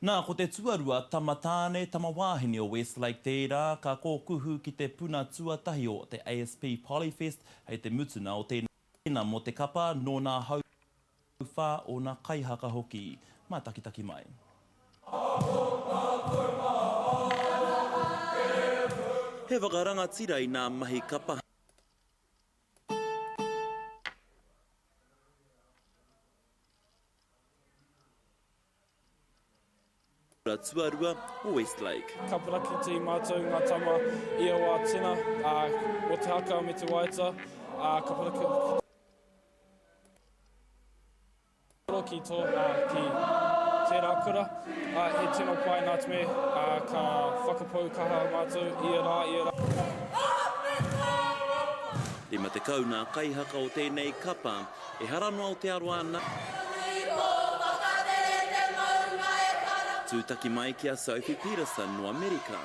Nā, ko te tuarua tama tāne, tama wāhine o Westlake tērā ka kōkuhu ki te puna tuatahi o te ASP Polyfest hei te mutunga o tēnei tēina mō te kapa nō nā hauwhā, ōna kaihaka hoki. Mātakitaki mai. He whakarangatira i nā mahi kapa. Kura tuarua o Westlake. Ka parakiti matou nga tama i aua tina mo te haka me te waeata, a ka parakiti. Koro ki to ki tera kura, a he tino pai nat me ka whakapau kaha matou i a ra i a ra. 50 na kaihaka o tenei kapa. Ehara no Aotearoa na. Nui ko Whakatere te maunga e para. Tutaki mai ki a Sophie Peterson no Amerika.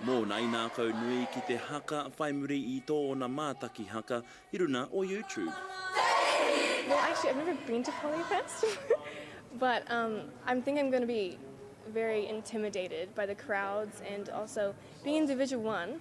Mona i nakau nui ki te haka whai muri i toona mataki haka i runa o YouTube. Well actually I've never been to Polyfest but um I'm think I'm gonna be very intimidated by the crowds and also being in division one